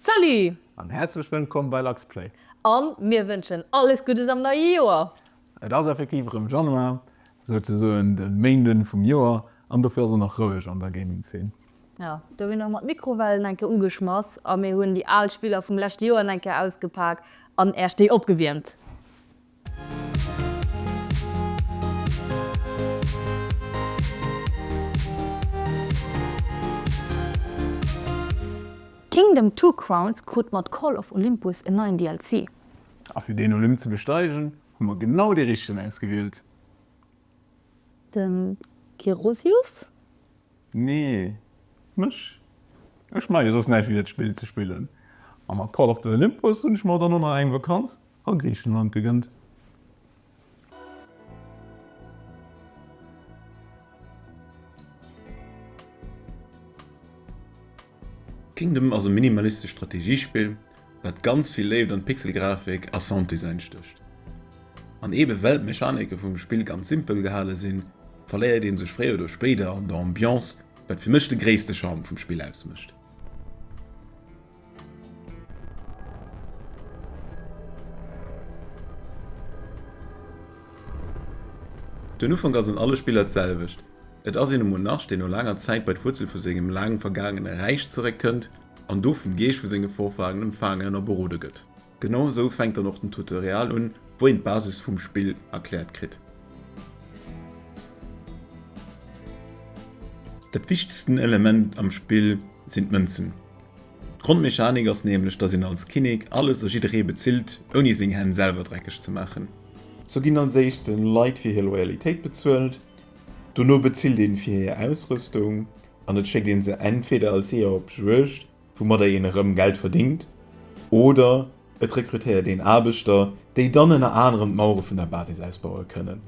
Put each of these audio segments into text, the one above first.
Salut! An häerzlech wëllkomm bei LuxPlay! An mir wënschen alles Guddes am neie Joer! Et ass effektiv erëm Januar, souzesoen de Méinden vum Joer, an dofir ass och nach roueg an der Gaming Zeen. Jo, do hunn och mer d'Mikrowellen eng Kéier ugeschmass a mir hunn déi al Spiller vum leschte Joer eng Kéier ausgepak an Äerch déi opgewiermt. Kingdom Two Crowns krut mat Call of Olympus en neien DLC. A fir deen Olymp ze besteigen, hu mer genau dee richtegen ausgewielt. De Gerusius? Nee, mech. Ech maache jo soss näischt wéi dat Spill ze spillen. A mat Call of the Olympus hunn ech mer dann och nach eng Vakanz A Griichenland gegënnt. Kingdom ass e minimalistescht Strategiespill, wat ganz vill Léift an Pixelgrafik a Sounddesign stécht. An eebe well d'Mechanike vum Spill ganz simpel gehale sinn, verléiert ee sech fréier oder spéider an der Ambiance, wat fir mech de gréisste Charme vum Spill ausmécht. Den Ufank ass an alle Spiller d'selwecht. Et ass een e Monarch, deen no laanger Zäit bei d'Wuerzel vu sengem laang vergaangene Räich zeréckkënnt an do vum Geescht vu senge Vorfahren empfaangen a berode gëtt. Genau esou fänkt dann och den Tutorial un, wou een d'Basis vum Spill erkläert kritt. Dat wichtegsten Element am Spill sinn d'Mënzen. D'Grondmechanik ass nämlech, dass een als Kinnek alles a jidderee bezilt, ouni seng Hänn selwer dreckeg ze maachen. Sou ginn als éischte Leit fir hir Loyalitéit bezuelt, dono bezilt een fir hir Ausrüstung an et schéckt een se entweder als Jeeër op d'Juegd woumadder een erëm Geld verdéngt, oder et rekrutéiert een Aarbechter, déi dann ënner anerem d'Mauere vun der Basis ausbaue kënnen.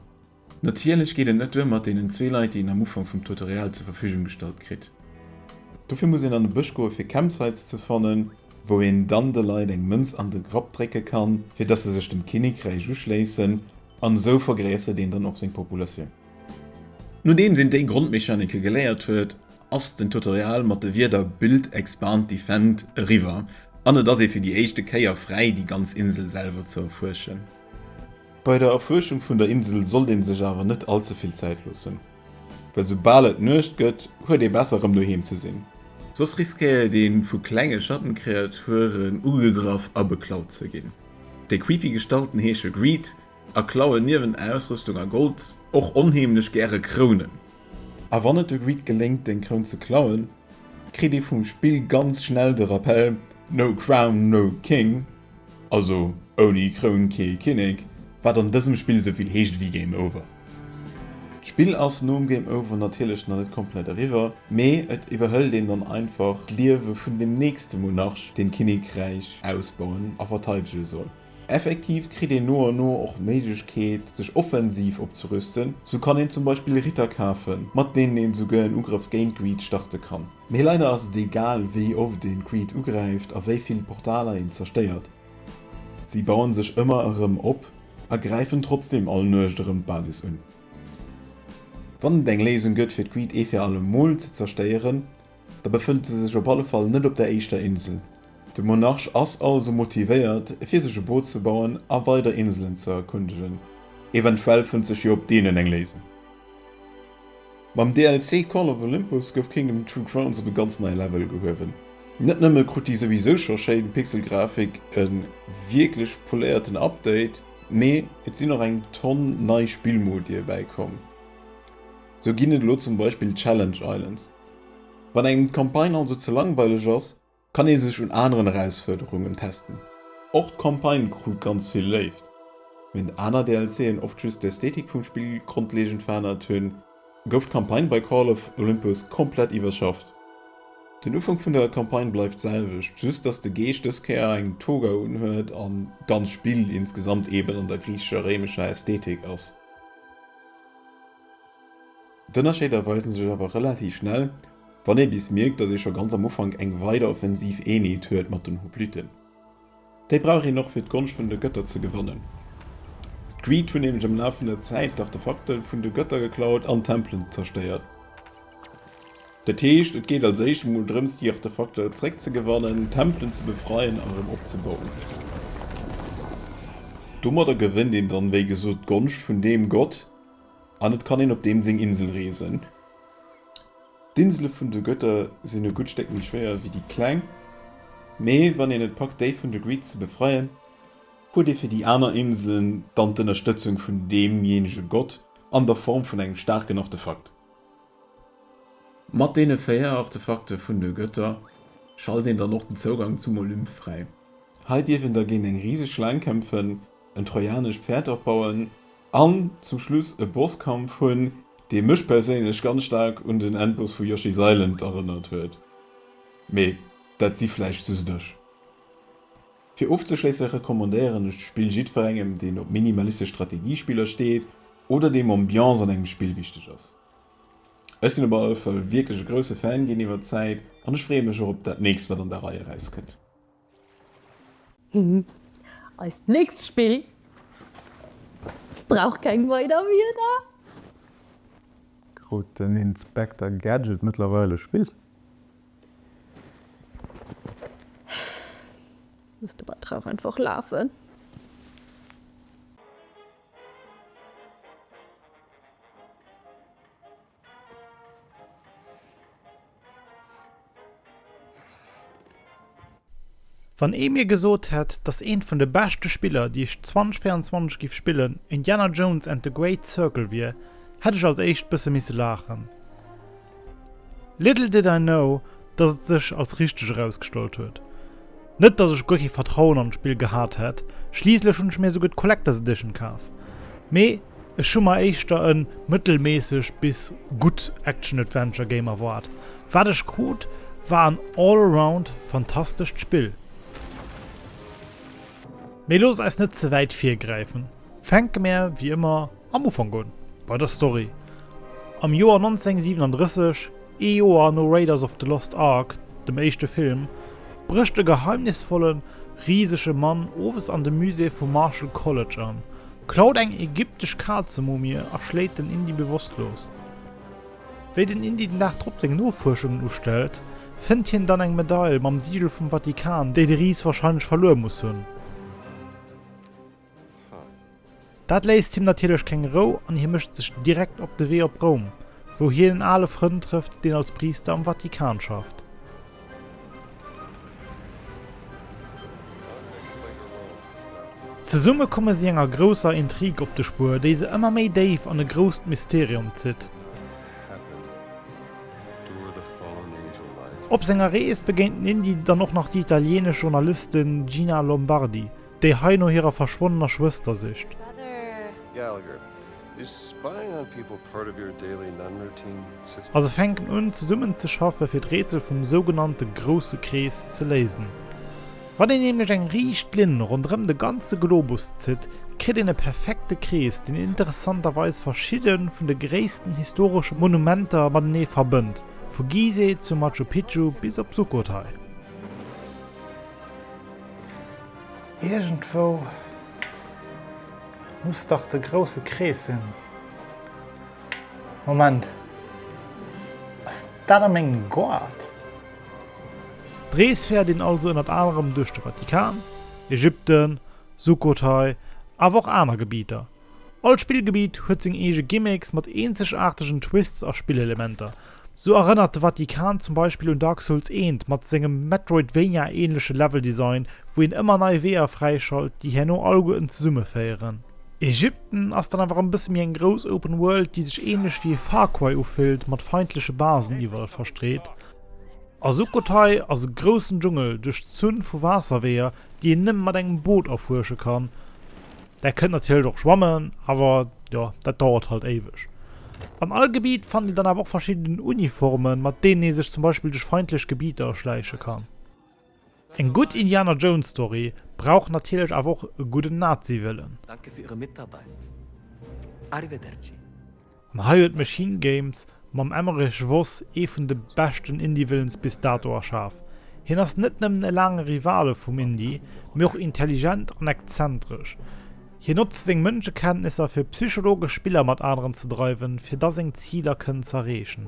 Natierlech geet et net duer mat deenen zwee Leit, déi een am Ufank vum Tutorial zur Verfügung gestallt kritt. Dofir muss een an de Bësch goe fir Campsites ze fannen, wou een dann de Leit eng Mënz an de Grapp drécke kann, fir dass se sech dem Kinnekräich uschléissen, an esou vergréissert een dann och seng Populatioun. Nodeems een déi Grondmechanike geléiert huet, ass den Tutorial mat de Wierder Build, Expand, Defend eriwwer an et ass ee fir déi éischte Kéier fräi déi ganz Insel selwer ze erfuerschen. Bei der Erfuerschung vun der Insel sollt ee sech awer net all ze vill Zäit loossen, well soubal et Nuecht gëtt huet ee besser rëm doheem ze sinn, soss riskéiert ee vu klenge Schattenkreaturen ugegraff a beklaut ze ginn. Déi creepy Gestalten heesche Greed, A klauen niewent Ausrüstung a Gold och onheemlech gäre Krounen. A wann et de Greed geléngt deng Kroun ze klauen, kritt ee vum Spill ganz schnell de Rappell, No Crown, no King, also ouni Kroun kee Kinnek, wat an dësem Spill souvill heescht ewéi Game Over. D'Spill ass nom Game Over natierlech nach net komplett eriwwer, mee et iwwerhëlt een dann einfach d'Liewe vun dem nächste Monarch, deen d'Kinnekräich ausbauen a verteidege soll. Effektiv kritt een no an no och d'Méiglechkeet, sech offensiv opzerüsten. Sou kann een zum Beispill Ritter kafen, mat deenen een esouguer en Ugrëff géint Greed starte kann. Mee leider ass et egal, wéi oft een Greed ugräift a wéi vill Portaler een zerstéiert. Si bauen sech ëmmer erëm op a gräifen trotzdeem all Nuecht erëm d'Basis un. Wann et eng Léisung gëtt fir d'Greed ee fir alle Mol ze zerstéieren, Da befënnt se sech op alle Fall net op der éischter Insel. De Monarch ass also motivéiert, fir sech e Boot ze bauen a weider Inselen ze erkundegen. Eventuell fënnt sech jo op deenen eng Léisung. Mam DLC Call of Olympus gouf Kingdom Two: Crowns op e ganz neie Level gehuewen. Net nëmme krut déi souwisou scho schéin Pixelgrafik e wierklech poléierten Update, mee et sinn och eng Tonn nei Spillmodie bäikomm. Sou ginn et elo zum Beispill Challenge Islands. Wann engem d'Campagne also ze langweileg ass, kann ee sech un aneren Erausfuerderungen testen. Och d'Campagne krut ganz vill Léift, wärend aner DLC'en oft just d'Ästhetik vum Spill grondlegend verännert hunn, gouf d'Campagne bei Call of Olympus komplett iwwerschafft. Den Ufank vun der Campagne bleift d'selwecht, just dass de Geesch dës Kéier eng Toga unhuet an d'ganz Spill insgesamt eben an der griichescher-réimescher Ästhetik ass. D'Ënnerscheeder weisen sech awer relativ schnell, wann ee bis mierkt, datt ee scho ganz am Ufank eng weider offensiv Eenheet huet mat den Hopliten. Déi brauch een och fir d'Gonscht vun de Götter ze gewannen. D'Greed hunn nämlech am Laf vun der Zäit d'Artefakte vun de Götter geklaut an d'Tempelen zerstéiert. Dat heescht, et geet als éischt emol drëms déi Artefakter zréck ze gewannen, d'Tempelen ze befreien a rëm opzebauen. Domadder gewënnt een dann wéi gesot d'Gonscht vun deem Gott, An et kann een op deem seng Insel reesen. D'Insele vun de Götter sinn e gutt Stéck méi schwéier wéi déi kleng, mee wann een et packt déi vun de Greed ze befreien, huet ee fir déi aner Inselen dann d'Ënnerstëtzung vun deemjéinege Gott an der Form vun engem staarken Artefakt. Mat deene véier Artefakte vun de Götter schallt een dann och den Zougang zum Olymp fräi. Hei dierf een da géint eng riseg Schlaang kämpfen, en trojanescht Päerd afbauen An zum Schluss e Bosskampf hunn, dee mech perséinlech ganz staark un den Endboss vu Yoshi's Island erënnert huet. Mee dat si vläicht just ech. Fir ofzeschléisse recommandéieren ech d'Spill jiddwerengem, deen op minimalistesch Strategiespiller steet oder deem Ambiance an engem Spill wichteg ass. Ech sinn op alle Fall wierklech e grousse Fan ginn iwwer d'Zäit an ech freeë mech och op dat nächst, wat an der Rei erauskënnt. Eist nächst Spill brauch keng weider Wieder. Krut den Inspekter Gadget mëttlerweil e Spiss? Muss de Batterie och einfach lafen? Wann ee mir gesot hätt, dass een vun de beschte Spiller, déi ech 2024 giff spillen, Indiana Jones and the Great Circle wier, hätt ech als éischt bësse misse laachen. Little did I know, dass et sech als richteg erausgestallt huet. Net dass ech guer kee Vertrauen an d'Spill gehat hätt, schliisslech hunn ech mir souguer d'Collectors Edition kaf, mee ech hu mer éischter e mëttelméissegt bis gutt Action-Adventure Game erwaart. Wat ech krut war en all around fantastescht Spill. Mee loosst eis net ze wäit virgräifen, fänke mär wéi ëmmer Am Ufank un, bei der Story. Am Joer 1937, ee Joer no Raiders of the Lost Ark, dem éischte Film, brécht e geheimnisvolle risege Mann owes an de Musée vum Marshall College an, klaut eng ägyptesch Kazemumie a schléit den Indy bewosstlos. Wéi den Indy den Dag drop seng Nofuerschungen ustellt, fënnt hien dann eng Medail mam Sigel vum Vatikan, déi de Ris warscheinlech verluer muss hunn. Dat léisst him natierlech keng Rou an hie mécht sech direkt op de Wee op Roum, wou hien en ale Frënd trëfft, deen als Priister am Vatikan schafft. Zesumme komme si enger grousser Intrig op de Spuer, déi se ëmmer méi déif an e grousst Mysterium zitt. Op senger Rees begéint den Indy dann och nach déi italienesch Journalistin Gina Lombardi, déi hei no hirer verschwonnener Schwëster sicht. A se fänken un, zesummen ze schaffen, fir d'Rätsel vum sougenannte Grousse Krees ze léisen. Wann een nämlech eng riicht Linn ronderëm de ganze Globus zitt, kritt een e perfekte Krees, deen interessanterweis verschidde vun de gréissten historesche Monumenter matenee verbënnt, vu Gizeh zu Machu Picchu bis op Sukhothai. Iergendwou muss dach de grousse Krees sinn. Moment, ass dat a mengem Goart? D'Rees fäert een also ënnert anerem duerch de Vatikan, Ägypten, Sukhothai, awer och aner Gebidder, All Spillgebitt huet seng eege Gimmicks mat eenzegaartegen Twists a Spillelementer. Sou erënnert de Vatikan zum Beispill un Dark Souls I mat sengem Metroidvania-änleche Leveldesign, wou een ëmmer nei Weeër fräischalt, déi herno alleguerten zesummeféieren. Ägypten ass dann awer e bësse méi eng grouss Open World, déi sech änlech wéi e Far Cry ufillt, mat feindleche Basen iwwerall verstreet. A Sukhothai ass e groussen Dschungel duerch d'Zunn vu Waasserweeër, déi een nëmme mat engem Boot erfuersche kann. Där kënnt natierlech och schwammen, awer jo, dat dauert halt éiweg. An all Gebiet fannt een dann awer och verschidden Uniformen, mat deenen ee sech zum Beispill duerch feindlech Gebieter erschläiche kann. Eng gutt Indiana Jones Story brauch natierlech awer och e gudden Naziwëllen. Danke fir Äre Mitarbeit. Arrivederci. An hei huet Machine Games mam Emmerich Voss ee vun de beschten Indie-Villens bis dato erschaf. Hien ass net nëmmen e laange Rivale vum Indie, mee och intelligent an exzentresch. Hien notzt seng Mënschekenntnisser fir psychologesch Spiller mat aneren ze dreiwen, fir da seng Ziler kënnen z'erreechen.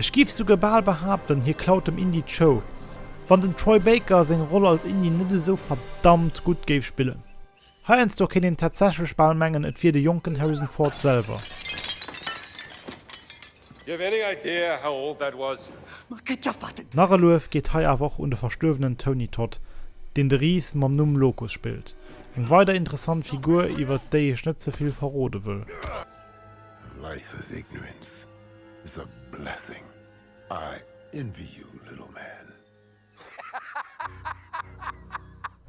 Ech giff souguer bal behaapten, hie klaut dem Indy d'Show, wann den Troy Baker seng Roll als Indy net esou verdammt gutt géif spillen. Heiansdo kéint een tatsächlech bal mengen, et wier de jonken Harrison Ford selwer. Nach e Luef geet hei awer och un de verstuerwenen Tony Todd, deen de Ris mam Numm Locus spillt. Eng weider interessant Figur, iwwert déi ech net ze vill verrode wëll. Life of ignorance is a blessing, I envy you little man.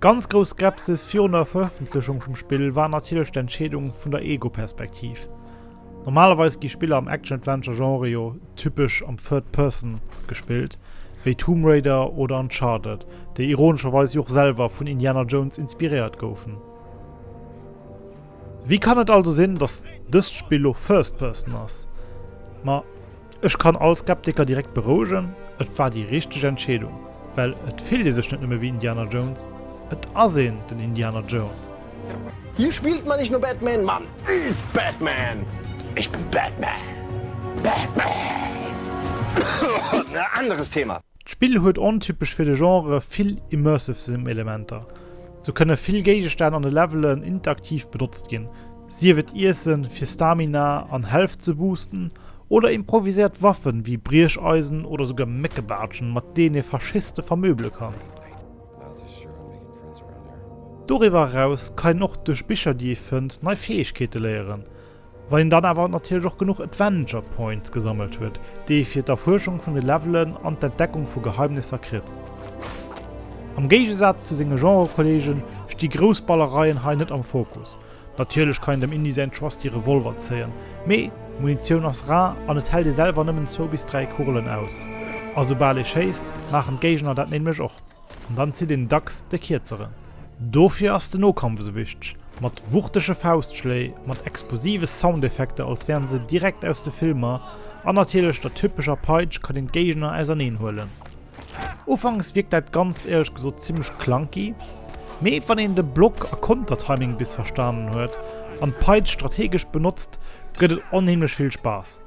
Ganz grouss Skepsis virun der Verëffentlechung vum Spill war natierlech d'Entscheedung vun der Ego-Perspektiv. Normalerweis gi Spiller am Action-Adventure-Genre jo typesch am Third Person gespillt, wéi Tomb Raider oder Uncharted, déi ironescherweis jo och selwer vun Indiana Jones inspiréiert goufen. Wéi kann et also sinn, dass dëst Spill lo First Person ass? Ma ech kann all Skeptiker direkt berouegen, et war déi richteg Entscheedung, well et fillt ee sech net nëmme wéi Indiana Jones, et ass een den Indiana Jones. Hier spielt man nicht nur Batman, man ist Batman! Ich bin Batman! Batman! Anderes Thema. D'Spill huet ontypesch fir de Genre vill immersive Sim-Elementer. Sou kënne vill Géigestänn an de Levelen interaktiv benotzt ginn, sief et Iessen fir Stamina an Health ze boosten oder improviséiert Waffen wéi Briecheisen oder souguer Méckebaartschen, mat deenen ee Faschiste vermöble kann. Doriwwer eraus kann een och duerch Bicher, déi ee fënnt, nei Fäegkeete léieren. Wann een dann awer natierlech och genuch Adventure Points gesammelt huet, déi ee fir d'Erfuerschung vun de Levelen an d'Entdeckung vu Geheimnisser kritt. Am Géigesaz zu senge Genre-Kolleege sti grouss Ballereien hei net am Fokus. Natierlech kann een dem Indy säin trusty Revolver zéien, mee d'Munitioun ass rar an et hält ee selwer nëmmen zwou bis dräi Kugelen aus. A soubal ee schéisst, maachen d'Géigner dat nämlech och. An dann zitt een dacks de Kierzeren. Dofir ass den Nokampf esou wichteg, mat wuchtege Faustschléi, mat explosive Soundeffekter als wären se direkt aus de Filmer an natierlech der typescher Peitsch kann een d'Géigner auserneen huelen. Ufanks wierkt dat Ganzt éierlech gesot zimmlech clunky, mee wann een de Block a Kontertiming bis verstanen huet an d'Peitsch strategesch benotzt, gëtt et onheemlech vill Spaass.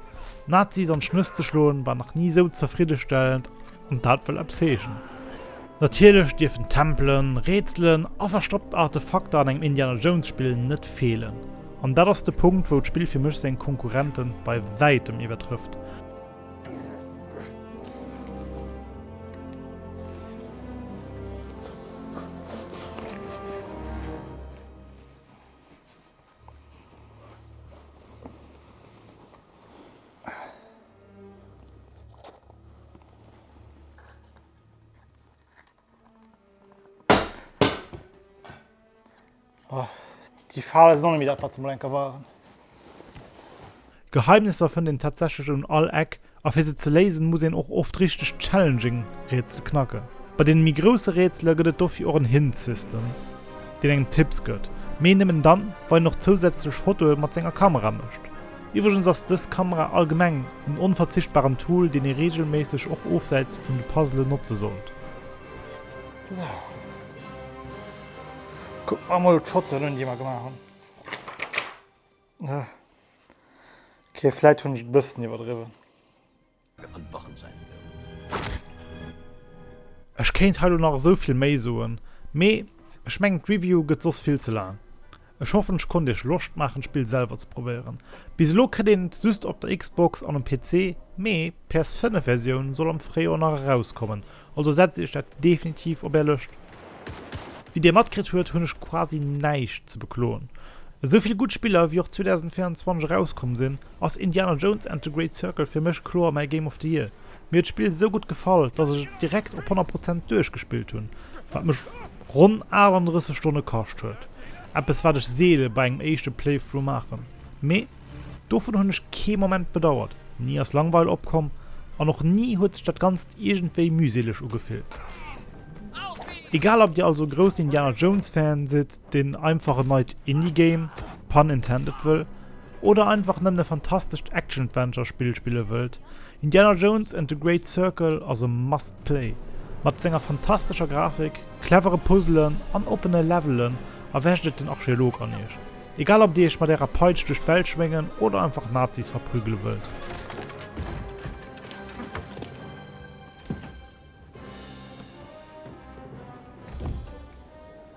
Nazis an d'Schnëss ze schloen war nach ni esou zefriddestellend. An dat wëll eppes heeschen. Natierlech dierfen Tempelen, Rätselen a verstoppt Artefakter an engem Indiana Jones Spill net feelen. An dat ass de Punkt, wou d'Spill fir mech seng Konkurrente bei wäitem iwwertrëfft. Oh, die Farbe ist noch nicht wieder etwas zum Lenker waren. Geheimnisser fënnt een tatsächlech un all Eck, a fir se ze léisen, muss een och oft richteg challenging Rätsel knacken. Bei deene méi grousse Rätsele gëtt et dofir och en Hint-System, deen engem Tipps gëtt, mee nëmmen dann, wa een och zousätzlech Fotoe mat senger Kamera mécht. Iwwregens ass dës Kamera allgemeng en onverzichtbaren Tool, deen ee reegelméisseg och ofsäits vun de Puzzlen notze sollt. Sou, kucke mer emol d'Fotoen un, déi mer gemaach hunn. Ok, vläit hunn ech et e bëssen iwwerdriwwen. Ech kéint hei lo nach esou vill méi soen, mee ech mengen d'Review gëtt soss vill ze laang. Ech hoffen ech konnt iech Loscht maachen d'Spill selwer ze probéieren. Bis elo kritt een et just op der Xbox an um PC, mee PS5 Versioun soll am Fréijoer nach erauskommen, Also setzt iech dat definitiv op är Lëscht. Wéi dir matkritt huet, hunn ech quasi näischt ze bekloen. Esou vill gutt Spiller wéi och 2024 erauskomm sinn, ass Indiana Jones and the Great Circle fir mech kloer mäi Game of the Year. Mir huet d'Spill esou gutt gefall, dass ech et direkt op 100 Prozent duerchgespillt hunn, wat mech ronn 38 Stonne kascht huet, eppes wat ech seele bei engem éischte Playthrough maachen. Mee. Dovun hunn ech kee Moment bedauert, ni ass Langweil opkomm an och ni huet sech dat Ganzt iergendwéi mühseleg ugefillt. Egal ob dir also e groussen Indiana Jones Fan sidd, deen einfach en neit Indie Game, pun intended, wëll, oder einfach nëmmen e fantastescht Action Adventure Spill spille wëllt, Indiana Jones and the Great Circle ass e must play. Mat senger fantastescher Grafik, clevere Puzzelen an oppene Levelen erwächt et den Archeolog an iech. Egal ob dir iech mat ärer Peitsch duerch d'Welt schwéngen oder einfach Nazis verprügele wëllt.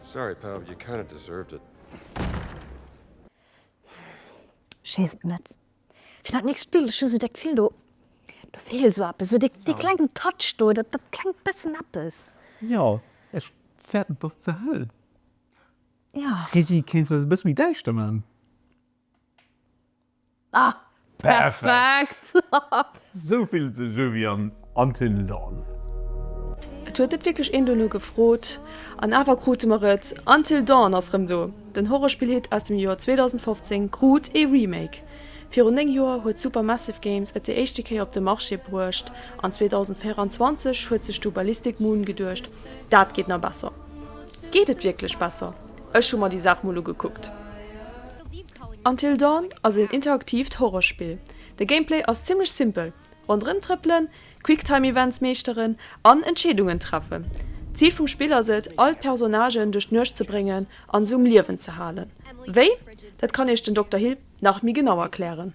Sorry pal, you kinda deserved it. Schéisst net fir dat nächst Bild, ech hu sou de Gefill do feelt sou eppes, sou dee klengen Touch do, dat klengt bessen eppes. Jo, ech fäerten dass ze hell. Jo. Frizzy, kéints de dat e bësse méi däischter man? Ah, perfekt! Sou fillt sech u wéi an Until Dawn. Et huet net wierklech een dono gefrot, an awer krute mer et, Until Dawn ass rëm do! Den Horrorspill-Hit aus dem Joer 2015 krut ee Remake. Virun 9 Joer huet Supermassive Games et déi éischte Kéier op de Marché bruecht, an 2024 huet sech du Ballistic Moon geduecht, dat geet na besser. Geet et wierklech besser? Ech hu mer déi Saach mol ugekuckt. Until Dawn ass een interaktiivt Horrorspill. De Gameplay ass zimmlech simpel, ronderëm trëppelen, Quicktime Events meeschteren an Entscheedungen treffen. D'Zil vum Spill ass et, all d'Personnagen duerch d'Nuecht ze bréngen an se um Liewen ze halen. Wéi? Dat kann Iech den Dokter Hill nach méi genau erklären.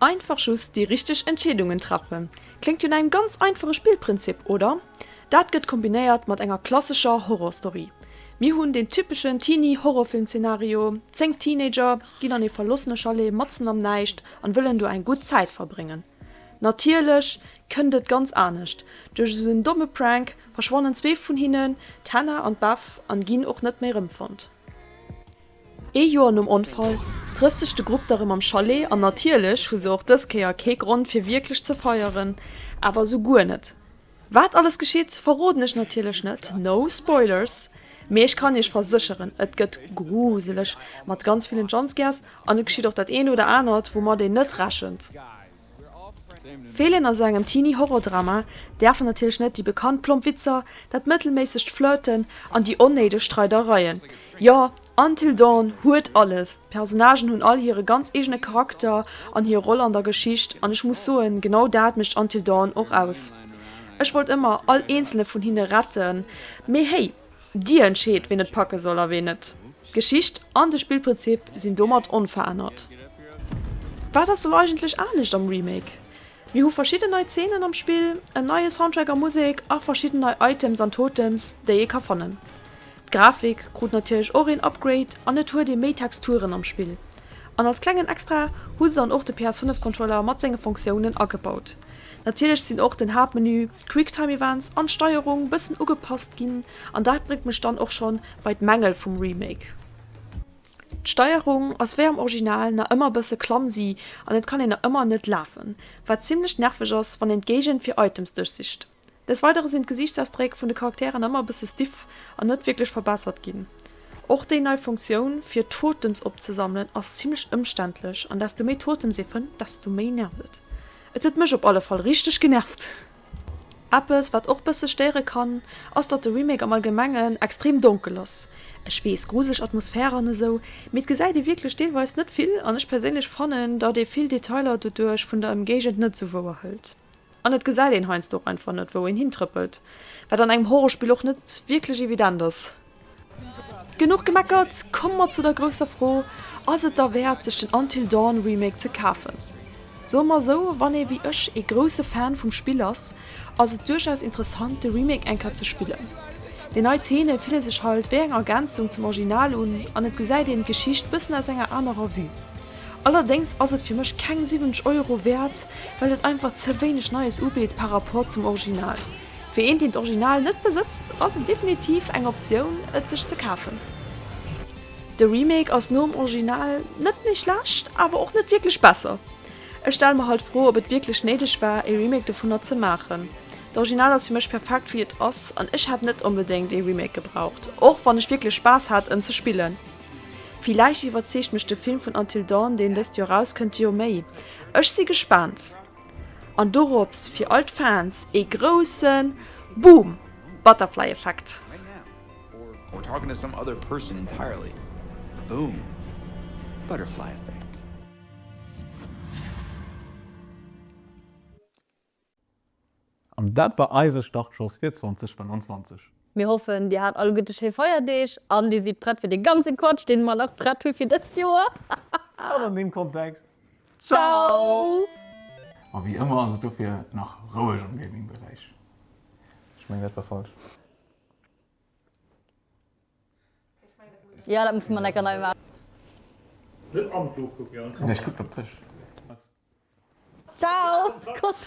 Einfach just déi richteg Entscheedungen treffen, kléngt wéi engem ganz einfache Spillprinzip, oder? Dat gëtt kombinéiert mat enger klassescher Horrorstory. Mir hunn deen typeschen Teenie-Horrorfilm-Zenario, 10 Teenager ginn an ee verlossene Chalet matzen am Näischt an wëllen do eng gutt Zäit verbréngen. Natierlech kënnt et ganz anescht, duerch esou en domme Prank verschwannen zwee vun hinnen, d'Hannah an d'Beth, an ginn och net méi rëmfonnt. Ee Joer nom Onfall trëfft sech de Grupp da rëm am Chalet an natierlech hu se och dës Kéier kee Grond fir wierklech ze feieren, awer esou guer net. Wat alles geschitt, verroden ech natierlech net, no spoilers, mee ech kann iech versécheren, et gëtt gruseleg, mat ganz villen Jumpscares an et geschitt och dat eent oder anert woumat een net rechent. Feelen a sou engem Teenie Horrordrama däerfen natierlech net déi bekannt plomp Witzer, dat mëttelméissegt Flirten an déi onnéideg Streidereien. Jo, Until Dawn huet alles, d'Personnagen hunn all hire ganz eegene Charakter an hir Roll an der Geschicht, an ech muss soen, genau dat mécht Until Dawn och aus. Ech wollt ëmmer all eenzele vun hinne retten, mee héi, Dir entscheet, ween et packe soll a ween net. D'Geschicht an de Spillprinzip sinn domat onverännert. Wat ass elo eigentlech anescht am Remake? Mir hu verschidden nei Zeenen am Spill, en neie Soundtrack a Musek a verschidden nei Items an Totems, déi ee ka fannen. D'Grafik krut natierlech och een Upgrade an et huet ee méi Texturen am Spill. An als klengen Extra hu se dann och de PS5-Controller mat senge Fonctiounen agebaut. Natierlech sinn och den Haaptmenü, Quicktime Events an d'Steierung bëssen ugepasst ginn an dat bréngt mech dann och schonn bei d'Mängel vum Remake. D'Steierung ass wéi am Original nach ëmmer bësse clumsy an et kann een nach ëmmer net lafen, wat zimmlech nerveg ass wann een d'Géigend fir Items duerchsicht. Des Weidere sinn d'Gesiichtsausdréck vun de Charakteren nach ëmmer bësse stiff an net wierklech verbessert ginn. Och déi nei Funktioun fir Totems opzesammelen ass zimmlech ëmständlech an desto méi Totems ee fënnt, desto méi nervt et. Et huet mech op alle Fall richteg genervt. Eppes wat och bësse stéiere kann ass datt de Remake am allgemengen extrem donkel ass. Ech weess, gruseleg Atmosphäre an esou, mee et gesäit ee wierklech deelweis net vill an ech perséinlech fannen datt ee vill Detailer doduerch vun der Emgéigend net sou wouer hëlt an et gesäit een heiansdo och einfach net wou een hintrëppelt, wat an engem Horrorspill och net wierklech evident ass. Genuch gemeckert, komme mer zu der grousser Fro, Ass et derwäert sech den Until Dawn Remake ze kafen? Soe mer esou, wann ee wéi ech ee grousse Fan vum Spill ass, ass et duerchaus interessant de Remake eng Kéier ze spillen. Déi nei Zeene fille sech halt wéi eng Ergänzung zum Original un an et gesäit een d'Geschicht bëssen aus enger anerer Vue. Allerdéngs ass et fir mech keng 70 Euro wäert, well et einfach ze wéineg Neies ubitt par Rapport zum Original. Fir een deen d'Original net besëtzt ass et definitiv eng Optioun et sech ze kafen. De Remake ass nom Original net méi schlecht, awer och net wierklech besser. Ech stelle mer halt d'Fro op et wierklech néideg war ee Remake dovunner ze maachen. D'Original ass fir mech perfekt wéi et ass an ech hätt net onbedéngt ee Remake gebraucht, och wann ech wierklech Spaass hat en ze spillen. Villäicht iwwerzeegt mech de Film vun Until Dawn deen dëst Joer erauskënnt jo méi. Ech si gespaant. An dorops fir all d'Fans ee groussen Boom! Butterfly Effekt! An dat war eise Startschoss fir 2025. Mir hoffen, dir hat alleguerte schéi Feierdeeg an dir sidd prett fir de ganze Quatsch, deen mer nach prett hu fir dëst Joer. An an deem Kontext, Ciao! Ma wéi ëmmer ass et dofir nach roueg am Gaming Beräich. Ech mengen dat war falsch. Jo, dat musse mer necker nei maachen. Net am Buch kucken. Nee, ech kucken op dech. Ciao! Koss!